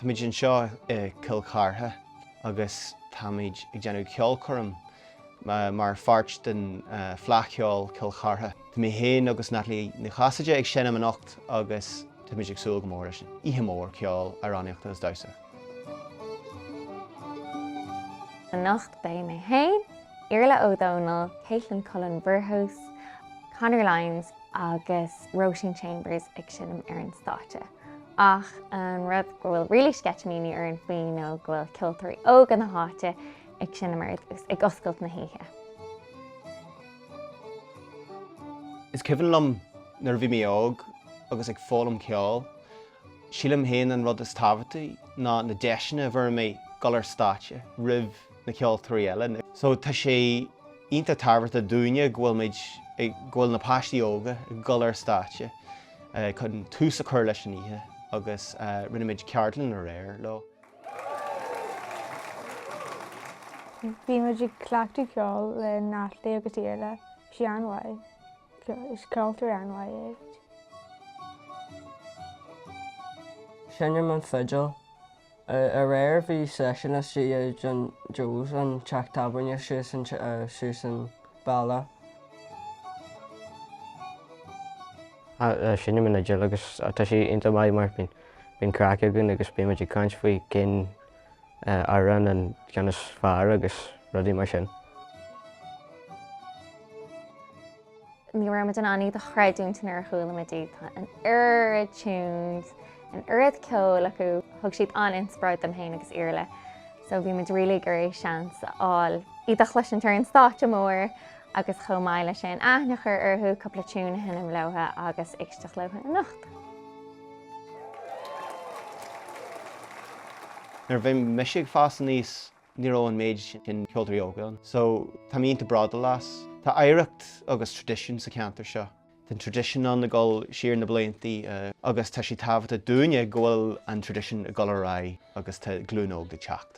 Tá muid anseo i gCill Chartha agus tá muid ag déanamh ceolchoirm mar pháirt den Fleadh Cheoil Chill Chartha. Tá mé féin agus Natalie Ní Chasaide ag seinm anocht agus tá muid ag súil go mór leis an oíche mór ceoil, amhránaíochta agus damhsa. Anocht beidh mé féin, Iarfhlaith Ó Domhnaill, Caitlin Cullen Burgos, Conor Lyons agus Róisín Chambers ag seinm ar an stáitse. Ach an rud go bhfuil really sceitimíní orainn faoi nó go bhfuil ceoltóirí óga na háite ag seinm ar dtús, ag oscailt na hoíche. Is cuimhin liom nuair a bhí mé óg agus ag foghlaim ceoil Sílim féin an rud is tábhachtaí ná na deiseanna a bhfuair mé dul ar stáitse roimh na ceoltóirí eile. So tá sé iontach tábhachtach dúinne go bhfuil muid, go bhfuil na páistí óga ag dul ar stáitse chun tús a chur leis an oíche agus rinne muid ceardlann aréir leo. Bhí muid ag cleachtadh ceoil le Natalie agus Iarfhlaith, bhí sé an-mhaith. Is ceoltóir an-mhaith é. Seinnim an fhidil. Aréir bhí seisiún istigh i dtigh John Joe's, an teach tábhairne suas an bealach. Seinnim an fhidil agus tá sé iontach maith mar bíonn craic againn agus bíonn muid ag caint faoi cén amhrán an ceann is fearr agus rudaí mar sin. Ní raibh muid in ann iad a chreidiúint nuair a chuala muid iad. Tá an oiread tunes, an oiread ceoil acu, thug siad an-inspioráid dom féin agus Iarfhlaith so bhí muid really ag iarraidh seans a fháil iad a chloisint ar an stáitse mór agus chomh maith leis sin aithne a chur orthu, cúpla tune a sheinm leo agus éisteacht leo anocht. Nuair a bhí mise ag fás aníos ní raibh an méid sin ceoltóirí óga ann so tá mé iontach bródúil as. Tá oidhreacht agus tradition sa cheantar seo. Tá an tradition ann ag dul siar na bliantaí agus tá sé tábhachtach dúinne go bhfuil an tradition ag dul ar aghaidh agus tá glúin óg ag teacht.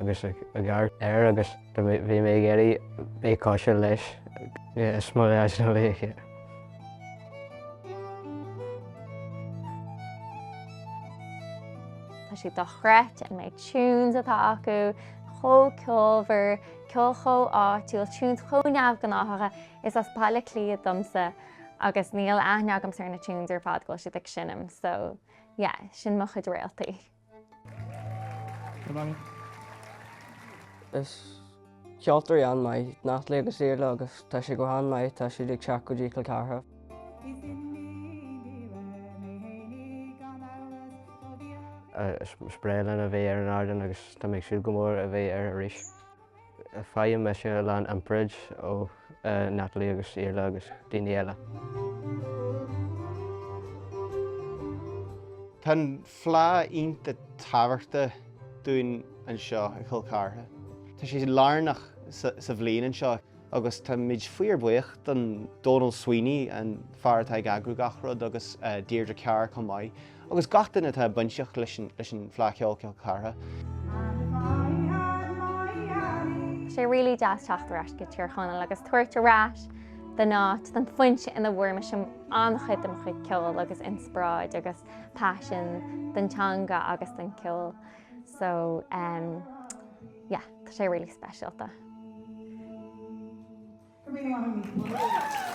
agus ag amharc air agus bhí mé ag iarraidh bheith cosúil leis. Is mo laochra iad. Tá siad dochreidte, an méid tunes atá acu chomh ceolmhar, ceol chomh áitiúil, tunes chomh neamhghnáthacha. Is as Baile Átha Cliath domsa agus níl aithne agamsa ar na tunes ar fad go bhfuil siad ag seinm so yeah, sin mo chuid réaltaí. Is ceoltóirí an-mhaith Natalie agus Iarla agus tá sé go han-mhaith tá siad ag teacht go dtí Cill Chartha. Is breá liom a bheith ar an ardán agus tá mé ag súil go mór a bheith air arís. Faighim mise a lán inspioráid ó Natalie agus Iarla agus daoine eile. Tá an Fleadh iontach tábhachtach dúinn anseo i gCill Chartha. Tá sé lárnach sa bhliain anseo. agus tá muid fíor bhuíoch do Donal Sweeney, an fear atá ag eagrú gach rud agus Deirdre Carr chomh maith, agus gach duine atá bainteach leis an Fleadh Cheoil Chill Chartha. Tá sé really deas teacht ar ais go Tír Chonaill agus tabhairt ar ais don áit don foinse ina bhfuair mise an-chuid de mo chuid ceol agus inspioráid agus passion don teanga agus don ceol. So um yeah tá sé really speisialta. Go míle maith Amy.